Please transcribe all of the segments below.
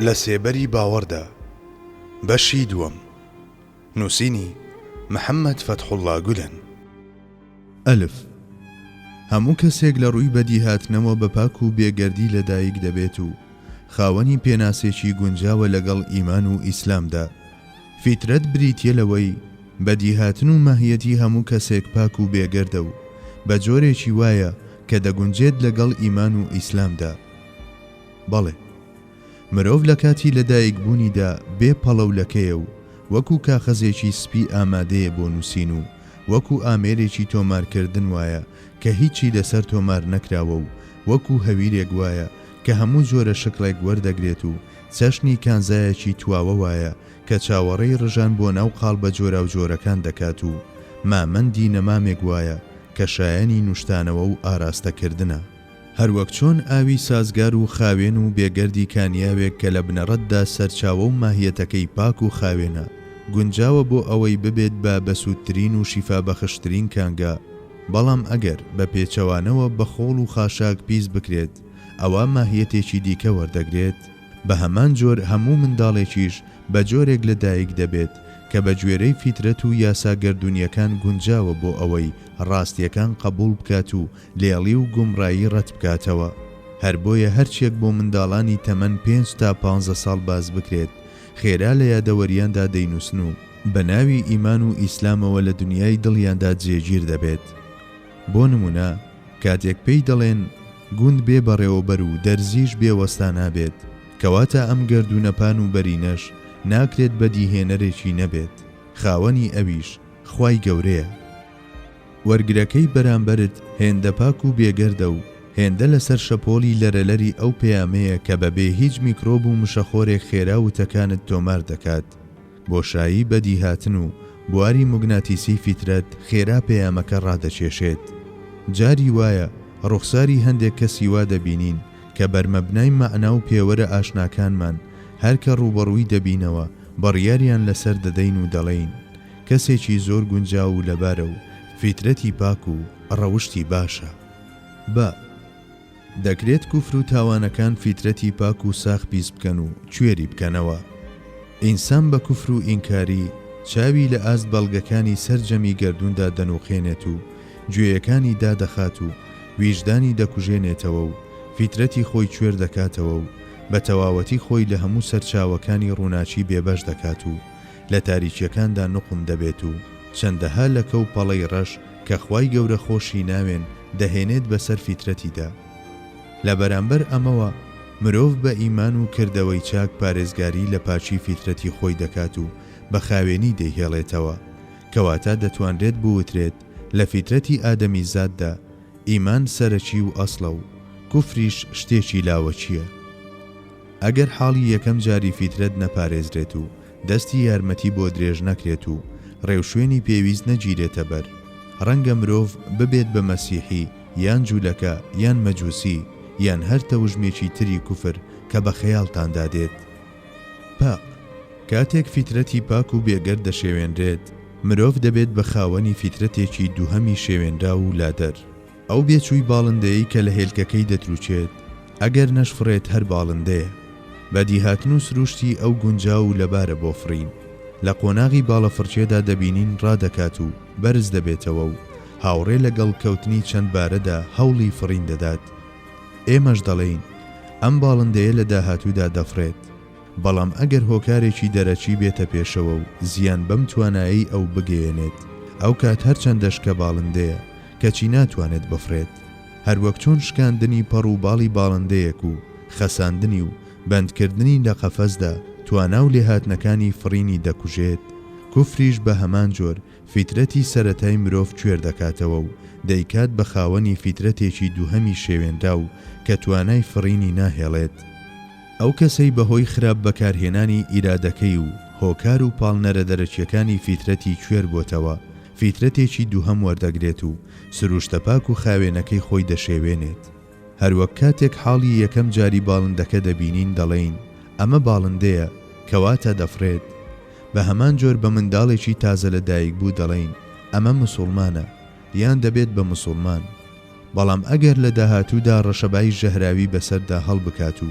لە سێبەری باوەڕدا بەشی دووەم نووسینی محەممەد فەتحوڵا گولەن ئەلف هەموو کەسێک لە ڕووی بەدیهاتنەوە بە پاک و بێگەردی لەدایک دەبێت و خاوەنی پێناسێکی گونجاوە لەگەڵ ئیمان و ئیسلامدا فیترەت بریتییە لەوەی بەدیهاتن و ماهیەتی هەموو کەسێک پاک و بێگەردە و بە جۆرێکی وایە کە دەگونجێت لەگەڵ ئیمان و ئیسلامدا. بەڵێ، مرۆڤ لە کاتی لەدایکبوونیدا بێ پەڵەولەکەیە و وەکو کاخەزێکی سپی ئامادەیە بۆ نووسین و وەکو ئامێرێکی تۆمارکردن وایە کە هیچی لەسەر تۆمار نەکراوە و وەکو هەویرێک وایە کە هەموو جۆرە شکڵێک وەردەگرێت و چەشنی کانزایەکی تواوە وایە کە چاوەڕێی ڕژان بۆ ناو قاڵبە جۆراوجۆرەکان دەکات و مامەندی نەمامێک وایە کە شایەنی نوشتانەوە و ئاراستەکردنە. هەروەک چۆن ئاوی سازگار و خاوێن و بێ گەردی کانیاوێک کە لە بنەڕەتدا سەرچاوە و ماهیەتەکەی پاک و خاوێنە، گونجاوە بۆ ئەوەی ببێت بە بەسوودترین و شیفابەخشترین کانگا، بەڵام ئەگەر بە پێچەوانەوە بە خۆڵ و خاشاک پیس بکرێت، ئەوا ماهیەتێکی دیکە وەردەگرێت، بە هەمان جۆر هەموو منداڵێکیش بە جۆرێک لە دایک دەبێت کە بە گوێرەی فیترەت و یاسا گەردوونیەکان گونجاوە بۆ ئەوەی ڕاستیەکان قەبووڵ بکات و لێڵی و گومڕایی ڕەت بکاتەوە هەر بۆیە هەرچیەک بۆ منداڵانی تەمەن پێنج تا پانزە ساڵ باس بکرێت خێرا لە یادەوەریاندا دەینووسن و بە ناوی ئیمان و ئیسلامەوە لە دنیای دڵیاندا جێگیر دەبێت. بۆ نموونە کاتێک پێی دەڵێن گوند بێ بەڕێوەبەر و دەرزیش بێ وەستا نابێت، کەواتە ئەم گەردوونە پان و بەرینەش ناکرێت بەدیهێنەرێکی نەبێت، خاوەنی ئەویش خوای گەورەیە. وەرگرەکەی بەرامبەرت هێندە پاک و بێگەردە و هێندە لەسەر شەپۆڵی لەرەلەری ئەو پەیامەیە کە بەبێ هیچ میکرۆب و مشەخۆرێک خێرا وتەکانت تۆمار دەکات، بۆشایی بەدیهاتن و بواری موگناتیسیی فیترەت خێرا پەیامەکە ڕادەکێشێت. جاری وایە ڕوخساری هەندێک کەسی وا دەبینین کە بەرمەبنای مەعنا و پێوەرە ئاشناکانمان، هەر کە ڕووبەڕووی دەبینەوە بڕیاریان لەسەر دەدەین و دەڵێین، کەسێکی زۆر گونجاو و لەبارە و فیترەتی پاک و ڕەوشتی باشە. بە. دەکرێت کوفر و تاوانەکان فیترەتی پاک و ساخ پیس بکەن و کوێری بکەنەوە. ئینسان بە کوفر و ئینکاری، چاوی لە ئاست بەڵگەکانی سەرجەمی گەردووندا دەنووقێنێت و گوێیەکانی دادەخات و ویژدانی دەکوژێنێتەوە و فیترەتی خۆی کوێر دەکاتەوە و بە تەواوەتی خۆی لە هەموو سەرچاوەکانی ڕووناکی بێبەش دەکات و لە تاریکییەکاندا نوقم دەبێت و چەندەها لەکە و پەڵەی ڕەش کە خوای گەورە خۆشی ناوێن دەهێنێت بەسەر فیترەتیدا لە بەرامبەر ئەمەوە مرۆڤ بە ئیمان و کردەوەی چاک پارێزگاری لە پاکی فیترەتی خۆی دەکات و بە خاوێنی دەیهێڵێتەوە کەواتە دەتوانرێت بوترێت لە فیترەتی ئادەمیزاددا ئیمان سەرەکی و ئەسڵە و کوفریش شتێکی لاوەکیە ئەگەر حاڵی یەکەم جاری فیترەت نەپارێزرێت و دەستی یارمەتی بۆ درێژ نەکرێت و ڕێوشوێنی پێویست نەگیرێتە بەر، ڕەنگە مرۆڤ ببێت بە مەسیحی یان جولەکە یان مەجوسی یان هەر تەوژمێکی تری کوفر کە بە خەیاڵتاندا دێت. پئ. کاتێک فیترەتی پاک و بێگەرد دەشێوێنرێت، مرۆڤ دەبێت بە خاوەنی فیترەتێکی دووهەمی شێوێنراو و لادەر. ئەو بێچووی باڵندەیەی کە لە هێلکەکەی دەترووکێت، ئەگەر نەشفڕێت هەر باڵندەیە. بەدیهاتن و سرووشتی ئەو گونجاو و لەبارە بۆ فڕین. لە قۆناغی باڵەفڕکێدا دەبینین ڕادەکات و بەرز دەبێتەوە و هاوڕێ لەگەڵ کەوتنی چەند بارەدا هەوڵی فڕین دەدات. ئێمەش دەڵێین ئەم باڵندەیە لە داهاتوودا دەفڕێت. بەڵام ئەگەر هۆکارێکی دەرەکی بێتە پێشەوە و زیان بەم توانایەی ئەو بگەیەنێت، ئەو کات هەرچەندە شکە باڵندەیە، کەچی ناتوانێت بفڕێت. هەروەک چۆن شکاندنی پەڕ و باڵی باڵندەیەک و خەساندنی و بەندکردنی لە قەفەزدا توانا و لێهاتنەکانی فڕینی دەکوژێت، کفریش بە هەمان جۆر فیترەتی سەرەتای مرۆڤ کوێر دەکاتەوە و دەیکات بە خاوەنی فیترەتێکی دووهەمی شێوێنراو کە توانای فڕینی ناهێڵێت. ئەو کەسەی بەهۆی خراپ بەکارهێنانی ئیرادەکەی و هۆکار و پاڵنەرە دەرەکیەکانی فیترەتی کوێر بۆتەوە، فیترەتێکی دووهەم وەردەگرێت و سروشتە پاک و خاوێنەکەی خۆی دەشێوێنێت. هەروەک کاتێک حاڵی یەکەم جاری باڵندەکە دەبینین دەڵێین ئەمە باڵندەیە کەواتە دەفڕێت، بەهەمان جۆر بە منداڵێکی تازە لە دایکبوو دەڵێین ئەمە مسوڵمانە، یان دەبێت بە مسوڵمان، بەڵام ئەگەر لە داهاتوودا ڕەشەبای ژەهراوی بەسەردا هەڵبکات و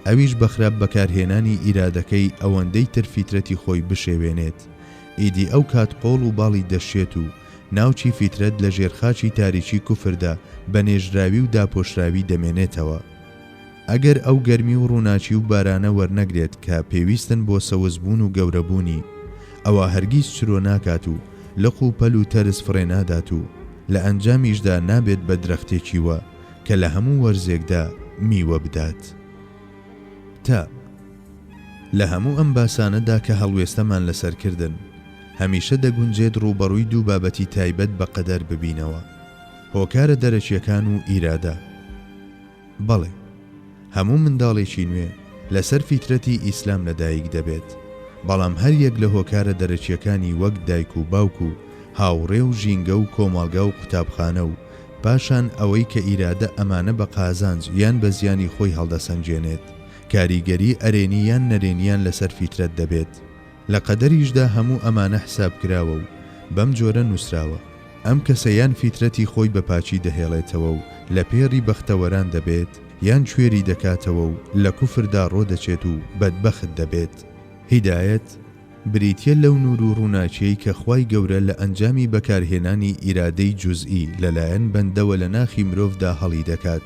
ئەویش بە خراپ بەکارهێنانی ئیرادەکەی ئەوەندەی تر فیترەتی خۆی بشێوێنێت، ئیدی ئەو کات قۆڵ و باڵی دەشێت و ناوکی فیترەت لە ژێر خاچی تاریکی کوفردا بە نێژراوی و داپۆشراوی دەمێنێتەوە. ئەگەر ئەو گەرمی و ڕووناکی و بارانە وەرنەگرێت کە پێویستن بۆ سەوزبوون و گەورەبوونی، ئەوا هەرگیز چرۆ ناکات و لق و پەل و تەرز فڕێنادات و لە ئەنجامیشدا نابێت بە درەختێکی وە کە لە هەموو وەرزێکدا میوە بدات. تا لە هەموو ئەم باسانەدا کە هەڵوێستەمان لەسەر کردن، هەمیشە دەگونجێت ڕووبەڕووی دوو بابەتی تایبەت بە قەدەر ببینەوە، هۆکارە دەرەکییەکان و ئیرادە. بەڵێ هەموو منداڵێکی نوێ لەسەر فیترەتی ئیسلام لەدایک دەبێت، بەڵام هەر یەک لە هۆکارە دەرەکیەکانی وەک دایک و باوک و هاوڕێ و ژینگە و کۆمەڵگا و قوتابخانە و پاشان ئەوەی کە ئیرادە ئەمانە بە قازانج یان بە زیانی خۆی هەڵدەسەنگێنێت کاریگەری ئەرێنی یان نەرێنیان لەسەر فیترەت دەبێت. لە قەدەریشدا هەموو ئەمانە حساب کراوە و بەم جۆرە نووسراوە، ئەم کەسە یان فیترەتی خۆی بە پاکی دەهێڵێتەوە و لە پێڕی بەختەوەران دەبێت، یان کوێری دەکاتەوە و لە کوفردا ڕۆدەچێت و بەدبەخت دەبێت. هیدایەت، بریتییە لەو نوور و ڕووناکییەی کە خوای گەورە لە ئەنجامی بەکارهێنانی ئیرادەی جوزئی لەلایەن بەندەوە لە ناخی مرۆڤدا هەڵیدەکات،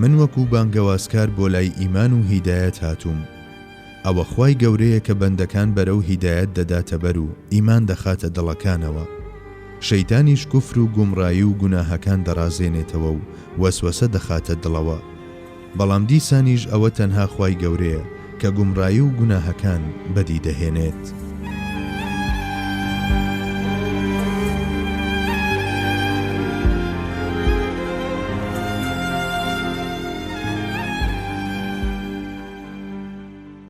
من وەکو بانگەوازکار بۆ لای ئیمان و هیدایەت هاتووم، ئەوە خوای گەورەیە کە بەندەکان بەرەو هیدایەت دەداتە بەر و ئیمان دەخاتە دڵەکانەوە، شەیتانیش کوفر و گومڕایی و گوناهەکان دەڕازێنێتەوە و وەسوەسە دەخاتە دڵەوە، بەڵام دیسانیش ئەوە تەنها خوای گەورەیە کە گومڕایی و گوناهەکان بەدی دەهێنێت.